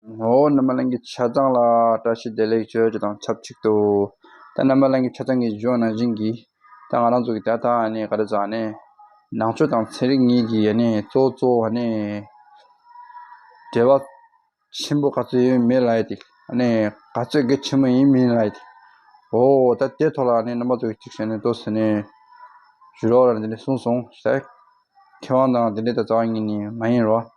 ངོ་བོ་རྣམ་པ་གླིང་གི་ཆ་ཚང་ལ་བཀྲ་ཤིས་བདེ་ལེགས་བརྗོད་རྒྱུ་དང་ཆབས་ཅིག་ཏུ། ད་རྣམ་པ་གླིང་གི་ཆ་ཚང་གི་གཞུང་ནང་བཞིན་གྱི། ད་ང་རང་ཚོ་གི་ད་ལྟ་ནས་ག་རེ་ཟག་ནས། ནང་ཆོས་དང་ཚན་རིག་གཉིས་ཀྱི་ནས་གཙོ་གཙོ་བོ་ནས། འབྲེལ་བ་ཆེན་པོ་ག་ཚོད་ཡོད་མེད་ལ་ཡི་ཏི། ནས་ག་ཚོད་གལ་ཆེན་པོ་ཡིན་མིན་ལ་ཡི་ཏི། འོ། ད་དེ་ཐོག་ལ་ནས་རྣམ་པ་ཚོ་གཅིག་བྱས་ནས་ཏོ་ཟེར་ནས། ཇུས་རོགས་ར་འདི་འདྲས་གསུངས་སོང། ཟེར། མཁས་དབང་དང་འདི་འདྲས་ད་རྩ་བ་ཉིད་ནས་མ་ཡིན་རོགས།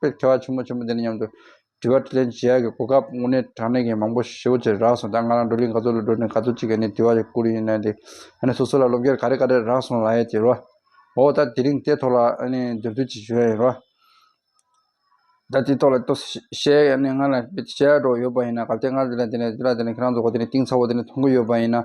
པའི་མཁས་པ་ཆེན་མོ་ཆེན་པོ་འདི་ནི་སྙམ་དུ། དྲི་བ་དྲིས་ལན་བྱེད་ཡག་གི་གོ་སྐབས་དངོས་གནས་དྲང་གནས་ཀྱི་མང་པོ་ཞེ་བོ་ཆེ་རག་སོང་ད་ང་རང་བགྲོ་གླིང་ག་ཚོད་ལ་འགྲོ་ནས་ག་ཚོད་ཅིག་གི་ནས་དྲི་བ་རེ་བསྐུར་ཡིན་ནའི་འདི་ཨ་ནི་སོ་སོ་ལ་སློབ་སྐྱེར་ག་རེ་ག་རེ་རག་སོང་ལ་ཡས་ཀྱི་རོ། འོ་ད་དེ་རིང་དེ་ཐོག་ལ་ཨ་ནི་མཛུབ་སྟོན་ཅིག་ཞུ་ཡས་ཡིན་རོ། ད་དེ་ཐོག་ལ་ཏོ་ཞེས་ཨ་ནི་ང་ལ་བཤད་འགྲོ་ཡོད་པ་ཡིན་ན་ག་བལྟས་ང་ལ་དེ་ལ་དེ་ལ་དེ་ལ་དེ་ལ་ཁྱེད་རང་ཚོ་གོ་དེ་ནས་གཏིང་ཚ་བོ་དེ་ནས་མཐོང་གི་ཡོད་པ་ཡིན་ན།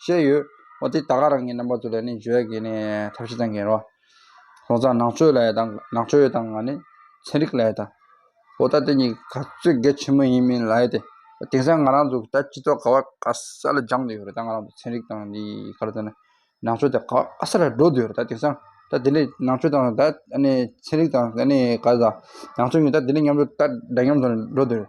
བཤད་ཡོད། འོ་དེ་ད་ག་རང་གི་རྣམ་པ་ཚོ་ལ་ནི་བརྗོད་གི་ནི་ཐབས་ཤེས་ཙམ་གྱིན་རོགས། ལྷོ་བཟང་ནག་ཆོས་ལ་ཡ་དང་ནག་ཆོས་ཡོད་དང་ང་ནི་ཚན་རིག་ལ་ཡ་དང། འོ་ད་དེ་གཉིས་ག་ཚོད་དགེ་ཆེན་མོ་ཡིན་མིན་ལ་ཡ་དེ། དེང་སང་ང་རང་ཚོ་ད་སྤྱི་ཚོགས་ག་བ་ག་ས་ལ་སྦྱངས་འདོད་ཡོད་རེད་ད་ང་རང་ཚོ་ཚན་རིག་དང་འདི་ག་རེ་ད་ནི་ནག་ཆོས་དེ་ག་བ་ག་ས་ལ་འགྲོ་འདོད་ཡོད་རེད་ད་དེང་སང་ད་དེ་ལས་ནག་ཆོས་དང་ད་ནི་ཚན་རིག་དང་ནི་ག་ས་ནག་ཆོས་གཉིས་ད་དེ་ལས་མཉམ་འགྲོ་ད་འདྲ་མཉམ་ཚོ་ནི་འགྲོ་འདོད་རེད།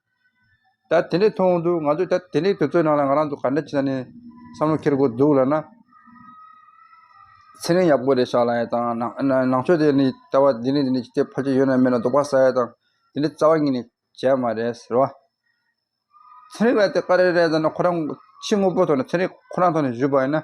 ད་དེ་འདྲས་མཐོང་འདུག་ང་ཚོས་ད་དེ་འདྲས་དུས་ཚོད་ནང་ལ་ང་རང་ཚོ་ག་འདྲ་ཅི་ད་ནས་བསམ་བློ་འཁྱེར་དགོས་འདུག་ལ་ན། ཚེ་རིང་ཡག་པོ་རེད་བཞག་ལ་ཡ་དང་ནང་ཆོས་དེ་ནི་ལྟ་བ་འདི་ནས་འདི་ནས་ཅི་ཕལ་ཆེར་ཡོད་ན་མེད་ན་རྡོག་པ་ཟ་ཡ་དང་དེ་འདྲས་རྩ་བ་ཉིད་ནས་བྱས་མ་རེད་ཟེར་བ། ཚེ་རིང་ལ་དེ་ཀ་རེ་རེད་ཟེར་ན་ཁོ་རང་ཕྱི་དངོས་པོ་ཐོག་ནས་ཚེ་རིང་ཁོ་རང་ཐོག་ནས་བཞུད་པ་ཡིན་ན།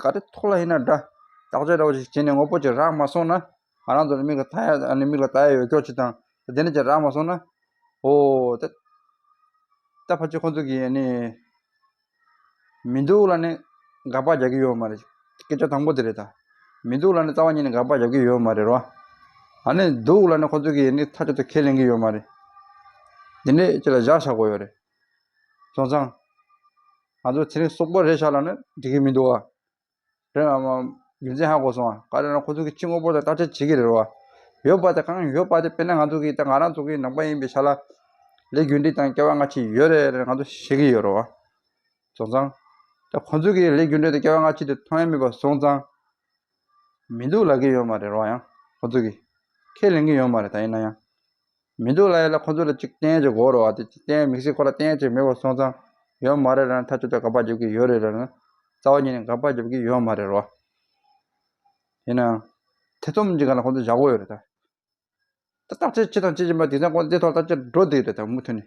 ག་རེ་ཐོག་ལ་ཡིན་ན་འདྲ། བརྟག་དཔྱད་རོགས་ཞིག་བྱས་ནས་དངོས་པོ་ཅིག་རག་མ་སོང་ན། ང་རང་ཚོ་ནི་མིག་ལ་མཐའ་ཡས་ནི་མིག་ལ་བལྟ་ཡས་ཡོད་ཀྱོག་ཅིག་དང། དེ་འདྲ་ཅིག་རག་མ་སོང་ན། ཨོ། ད། ད་ཕ་ཅིག་ཁོ་ཚོ་གིས་ནི། མི་སྡུག་ལ་ནི། དགག་པ་རྒྱག་གི་ཡོད་མ་རེད། སྐད་ཆ་དང་པོ་དེ་རེད་ད། མི་སྡུག་ལ་ནི་རྩ་བ་ཉིད་ནས་དགག་པ་རྒྱག་གི་ཡོད་མ་རེད་རོ། ད་ནི་སྡུག་ལ་ནི་ཁོ་ཚོ་གིས་ནི་ཐག་གཅོད་དུ་ཁས་ལེན་གི་ཡོད་མ་རེད། འདི་འདྲས་ཅིག་ལ་བཞག་ཆགས་དགོས་ཡོད་རེད། ཚང། ང་ཚོ་ཚེ་རིང་སོག་པོ་རེད་ཤག་ལ་ནི་འགྲིག་གི་མི་འདུག་བ། རེད་ཨ་མ། རྒྱུ་མཚན་ཧ་གོ་སོང་ཨ། ག་རེ་ན་ཁོ་ཚོ་གི་སྤྱི་དངོས་པོ་དང་བརྟག་དཔྱད་བྱེད་ཀྱི་རེད་རོ། ཡོད་པ་དེ་གང་ཡོད་པ་དེ་དཔེར་ན་ང་ཚོ་གི་ད་ང་རང་ཚོ་གི་ནང་པ་ཡིན་པའི་ཤག་ལ། ལས་རྒྱུ་འབྲས་དང་སྐལ་བ་སྔ་ཕྱི་ཡོད་རེད་རེད་ང་ཚོ་ཤེས་ཀྱི་ཡོད་རོ། བ། བཟོ་ཚང། ད་ཁོ་ཚོ་གི་ལས་རྒྱུ་འབྲས་དང་སྐལ་བ་སྔ་ཕྱི་དེ་མཐོང་ཡ་མེད་པ་བཟོ་ཚང། མི་འདུག་ལབ་ཀྱི་ཡོད་མ་རེད་རོ་ཡང་ཁོ་ཚོ་གི། ཁས་ལེན་གྱི་ཡོད་མ་རེད་ད་ཡིན་ན་ཡང། མི་འདུག་ལ་ཡོད་ལ་ཁོ་ཚོ་ལ་གཅིག་བསྟན་གྱི་གོ་རུ་བ་དེ་གཅིག་བསྟན་དམིགས་བསལ་ཁོ་ལ་བསྟན་གཅིག་མེད་པར་སོང་ཙང་ཡོད་མ་རེད་ར་ནི་ཐག་ཆོད་ལྟར་དགག་པ་རྒྱབ་ཀྱི་ཡོད་རེད་ར་ནི་རྩ་བ་ཉིད་ནས་དགག་པ་རྒྱབ་ཀྱི་ཡོད་མ་རེད་རོ། ཡིན་ནའང། ཐེ་ཚོམ་གཅིག་ག་ལ་ཁོ་ཚོ་བཞག་གོ་ཡོད་རེད་ད། ད་བརྟག་དཔྱད་ཅི་དང་ཅི་བྱེད་པ་དེ་ཚང་ཁོ་ཚོ་དེ་ཐོག་ལ་བརྟག་དཔྱད་འགྲོ་བསྡད་ཡོད་རེད་ད་མུ་མཐུད་ནས།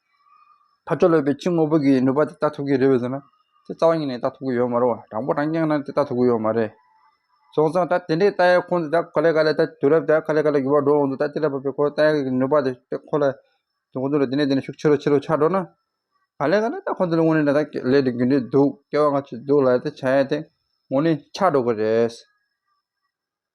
ཕར་ཕྱོགས་ལོས་པའི་ཕྱི་དངོས་པོ་གིས་ནུས་པ་དེ་ལྟ་ཐུབ་ཀྱི་རེད་བས་ཟེར་ན། དེ་རྩ་བ་ཉིད་ནས་ལྟ་ཐུབ་ཀྱི་ཡོད་མ་རུང་བ་དྲང་པོ་དྲང་རྐྱང་ནང་དེ་ལྟ་ཐུབ་ཀྱི་ཡོད་མ་རེད། སོང་ཙང་ད་དེ་འདྲའི་རྟ་ཡག་ཁོང་དེ་ག་ལེ་ག་ལེ་ད་དུས་རབས་ད་ག་ལེ་ག་ལེ་འགྱུར་བ་འགྲོ་འོང་དུ་ད་དེ་ལ་བབ་པའི་ཁོ་རྟ་ཡག་གི་ནུས་པ་དེ་ད་ཁོ་ལ་དེ་ཁོང་ཚོ་ལ་དེ་ནས་དེ་ནས་ཤུགས་ཆེ་རུ་ཆེ་རུ་ཆགས་འགྲོ་ན། ག་ལེ་ག་ལེ་ད་ཁོང་ཚོ་ལ་དངོས་གནས་ད་ད་ལས་དེ་རྒྱུ་འབྲས་འདུག་སྐྱེ་བ་སྔ་ཕྱི་འདུག་ལ་དེ་བྱ་ཡ་དེ་དངོས་གནས་ཆགས་འགྲོ་གི་རེད།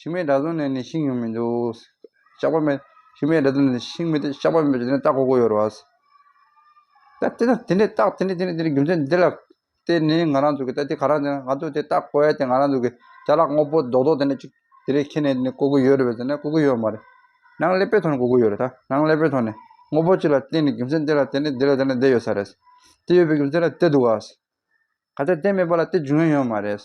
ཤིང་མེད་དགྲ་ཟུང་ནས་ནི་ཤིང་ཡོང་མི་འདུག། ཤ་བ་མེད། ཤིང་མེད་དགྲ་ཟུང་ནས་ནི་ཤིང་མི་འདུག་ཤ་བ་མེད། དེ་ནས་སྟག་གོ་གོ་ཡོར་བ། ད་དེ་ནས་དེ་ནས་སྟག་དེ་ནས་དེ་ནས་དེ་ནས་རྒྱུ་མཚན་འདི་ལ། དེ་ནི་ང་རང་ཚོ་གི་ད་དེ་ག་རང་ཚོ་ན་ང་ཚོ་དེ་སྟག་གོ་ཡ་དེ་ང་རང་ཚོ་གི་བྱ་གླག་སྔོ་པོ་རྡོག་རྡོག་དེ་ནས་ཅིག་དེ་རིགས་ཁྱེར་ནས་ནི་གོ་གི་ཡོད་རེད་བས་ཟེར་ན་གོ་གི་ཡོད་མ་རེད། ནང་ཀླད་པའི་ཐོག་ནས་གོ་གི་ཡོད་རེད་ད། ནང་ཀླད་པའི་ཐོག་ནས། དངོས་པོ་གཅིག་ལ་བརྟེན་ནས་རྒྱུ་མཚན་དེ་ལ་བརྟེན་ནས་འདི་ལ་དེ་ལ་འདི་ཡོད་ས་རེད། དེ་ཡོད་པའི་རྒྱུ་མཚན་ལ་དེ་འདུག་ཨ། ག་ཚད་དེ་མེད་པ་ལ་དེ་འབྱུང་ཡ་ཡོད་མ་རེད།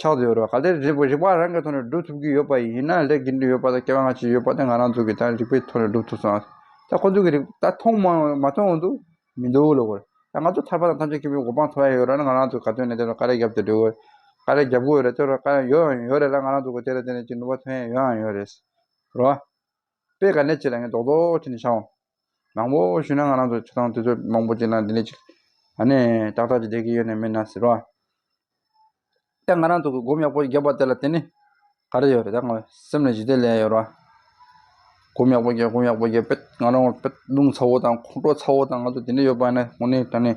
ཆགས་ཀྱི་ཡོད་རེད་བ། ག་ལེར་རིག་རིག་པ་རང་གི་ཐོག་ནས་སྒྲུབ་ཐུབ་ཀྱི་ཡོད་པ་ཡིན་ན་ལས་དགེ་འདུན་ཡོད་པ་དང་སྐལ་བ་སྔ་ཕྱི་ཡོད་པ་དེ་ང་རང་ཚོ་གིས་ད་རིག་པའི་ཐོག་ནས་སྒྲུབ་ཐུབ་སོང་ད་ཁོང་ཚོ་གིས་རིག་ད་མཐོང་མ་མཐོང་འོང་དུ་མི་འདུག་ལོ་གོ། ད་ང་ཚོ་ཐར་པ་དང་ཐམས་ཅད་སྐྱེ་བོའི་གོ་འཕང་ཐོབ་ཡ་ཡོད་ར་ན་ང་རང་ཚོ་ག་དོན་ནས་དེ་ལ་ཀ་རེ་རྒྱབ་ཏུ་འགྲོ་གི་ཀ་རེ་རྒྱབ་གི་ཡོད་རེད་དེ་ལ་ཀ་རེ་ཡོད་ཡང་ཡོད་རེད་ལ་ང་རང་ཚོ་གིས་དེ་ལ་བརྟེན་ནས་ཅིག་ནུས་པ་ཐོན་ཡ་ཡོད་ཡང་ཡོད་རེད། རེད་བ། པས་ག་ནས་ཁྱེད་ལ་ངས་རྡོག་རྡོག་བྱས་ནས་ཤ་འོང། མང་པོ་ཞུས་ན་ང་རང་ཚོ་ཆུ་ཐང་དེ་ཚོ་མང་པོ་ཅིག་ན་འདི་འདྲས་ཅིག་ཨ་ནས་ཏག་ཏག་ཅིག་བསྡད་ཀྱི་ཡོད་ནི་མིན་ན་ཟེར་བ། ད་ང་རང་ཚོ་གི་སྒོམ་ཡག་པོ་ཞིག་བརྒྱབ་པ་དེ་ལ་བརྟེན་ནས་ག་རེ་ཡོད་རེད་ད་ང་སེམས་ལ་ཞི་བདེ་ལས་ཡོད་རེད་བ། སྒོམ་ཡག་པོ་བརྒྱབ་སྒོམ་ཡག་པོ་བརྒྱབ་པས་ང་རང་ང་ཕོད་རླུང་ཚ་བོ་དང་ཁོང་ཁྲོ་ཚ་བོ་དང་ང་ཚོ་འདི་འདྲས་ཡོད་པ་ནི་ངོ་ནས་དྲན་ནས།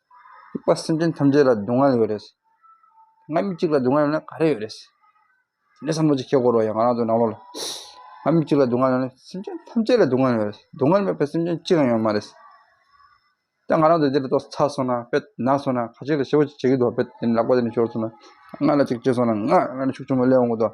རིག་པ་སེམས་ཅན་ཐམས་ཅད་ལ་སྡུག་བསྔལ་ཡོད་རེད། ང་མི་གཅིག་ལ་སྡུག་བསྔལ་ཡོད་ན་ག་རེ་ཡོད་རེད། དེ་འདྲའི་བསམ་བློ་ཅིག་སྐྱེ་དགོས་རོགས་ཡ་ང་རང་ཚོའི་ནང་ལོགས་ལ། ང་མི་གཅིག་ལ་སྡུག་བསྔལ་ཡོད་ན་སེམས་ཅན་ཐམས་ཅད་ལ་སྡུག་བསྔལ་ཡོད་རེད། སྡུག་བསྔལ་མེད་པའི་སེམས་ཅན་གཅིག་ཀྱང་ཡོད་མ་རེད། ད་ང་རང་ཚོ་འདི་ལ་ཏོག་ཚ་སོང་ན་དཔེ་ན་སོང་ན་ཁ་ཅིག་ལ་ཤི་བོ་ཅིག་བྱེད་ཀྱི་འདུག་དཔེ་དེ་ནས་ལག་པ་དེ་ནས་ཤོར་སོང་ན། ང་ལ་ཅིག་བྱས་སོང་ན་ང་རང་ལ་ཤུགས་ཆེན་པོ་སླེབས་འོང་གི་འདུག།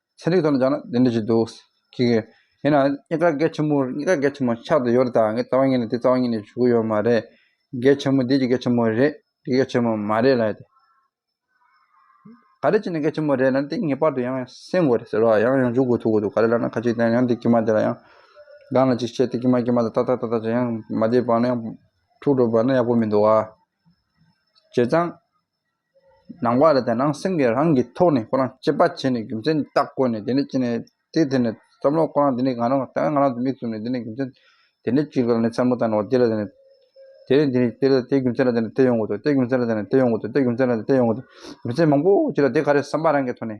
ཚན་རིག་ཐོག་ནས་བྱ་ན་དེ་འདྲ་ཞིག་འདུག་ཁྱི་གི། དེས་ན་གཉིས་ཀ་རྒྱ་ཆེན་མོ་གཉིས་ཀ་རྒྱ་ཆེན་མོ་ཆགས་ཏུ་ཡོད་རེད་ད་ངས་རྩ་བ་ཉིད་ནས་དེ་རྩ་བ་ཉིད་ནས་ཞུ་གི་ཡོད་མ་རེད། རྒྱ་ཆེན་མོ་འདི་ཀྱི་རྒྱ་ཆེན་མོ་རེད་འདི་རྒྱ་ཆེན་མོ་མ་རེད་ལ་ཡོད་དེ། ག་རེ་བྱས་ནས་རྒྱ་ཆེན་མོ་རེད་ལ་དེ་ངེས་པར་དུ་ཡང་སེམས་དགོས་རེད་ཟེར་བ་ཡང་ཡང་འཇུག་དགོས་ཐུག་གི་འདུག་ག་རེ་ལ་ན་ཁ་ཅིག་དེ་ཡང་འདི་ཀྱི་མ་དེ་ལ་ཡང། སྒང་ལ་ཅིག་བྱས་དེ་ཀྱི་མ་ཀྱི་མ་དང་ཏག་ཏག་ཏག་ཏག་བྱས་ཡང་མ་དེ་བག་ན་ཡང་འཁྲུག་འགྲོ་བ་ན་ཡག་པོ་མི་འདུག་ཨ། བྱས་ཙང། ནང་པ་རེད་དེ་ནང་སེམས་ཀྱི་རང་གི་ཐོག་ནས་ཁོ་རང་སྐྱེད་པ་བྱས་ནས་རྒྱུ་མཚན་དེ་དག་བཀོད་ནས་དེ་ནས་ཅི་ནས་དེ་དེ་ནས་བསམ་བློ་ཁོ་རང་དེ་ནས་གང་རང་ལྟ་བས་ང་རང་ཚོ་མིག་བཙུམ་ནས་དེ་ནས་རྒྱུ་མཚན་དེ་ནས་ཅིག་ལ་ནས་བསམ་བློ་བཏང་ནས་འོ་དེ་ལ་དེ་ནས་དེ་རེད་འདི་རེད་དེ་ལ་དེ་རྒྱུ་མཚན་ལ་དེ་ནས་དེ་ཡོང་གི་འདུག་དེ་རྒྱུ་མཚན་ལ་དེ་ནས་དེ་ཡོང་གི་འདུག་དེ་རྒྱུ་མཚན་ལ་དེ་ཡོང་གི་འདུག་རྒྱུ་མཚན་མང་པོ་ཅིག་ལ་དེ་ག་རེ་བསམ་པ་རང་གི་ཐོག་ནས།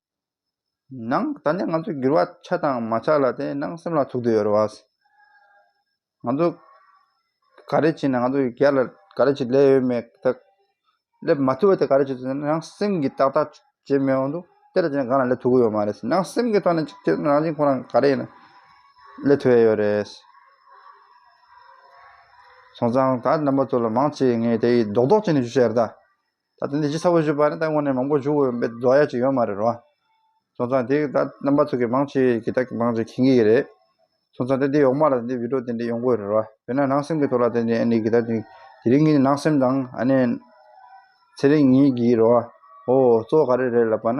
ནང་ད་ནས་ང་ཚོས་འགྱུར་བ་ཆགས་དང་མ་ཆགས་ལ་དེ་ནང་སེམས་ལ་ཚུགས་དུ་ཡོད་རེད་བ། ང་ཚོ་ག་རེ་བྱས་ན་ང་ཚོ་རྒྱ་ལ་ག་རེ་བྱས་སླེབས་ཡོད་མེད་དག་སླེབས་མ་ཐུབ་པ་དེ་ག་རེ་བྱས་ཚུལ་ནང་སེམས་ཀྱིས་ཏག་ཏག་བྱས་མི་འོང་དུ་དེ་ལ་བྱས་ན་གང་ལ་སླེབས་ཐུབ་ཀྱི་ཡོད་མ་རེད་ནང་སེམས་ཀྱི་ཐོག་ནས་ཅིག་རང་བཞིན་ཁོ་རང་ག་རེ་ཡིན་ན་སླེབས་ཐུབ་ཡས་ཡོད་རེད། སོང་ཙང་ད་རྣམ་པ་ཚོ་ལ་མང་ཆེ་ངས་དེ་ཡིས་རྡོག་རྡོག་བྱས་ནས་ཞུ་བྱས་རེད་ད། ད་དེ་འདི་ཅི་ས་བོ་བཞུགས་པ་ནི་ད་དངོས་གནས་མང་པོ་བཞུགས་འོས་པའི་རྫོགས་ཡ་ཅིག་ཡོད་མ་རེད་རོ། སོང་ཙང་དེ་ད་རྣམ་པ་ཚུགས་ཀྱི་མང་ཆེ་གི་ད་མང་ཆེ་ཁེངས་གི་རེད། སོང་ཙང་དེ་འདི་ཡོག་མ་ལ་དེ་འདི་བི་ཏྲོ་དེ་འདི་ཡོང་དགོས་རེད་རོ། བོད་ན་ནང་སེམས་གི་ཐོག་ལ་དེ་འདི་ཨ་ནི་གི་ད་དེ་རིང་གི་ནང་སེམས་དང་ཨ་ནི་ཚེ་རིང་གཉིས་གི་རོ། ཨོ་ཨོ་གཙོ་བོ་ག་རེ་རེད་ལབ་པ་ན།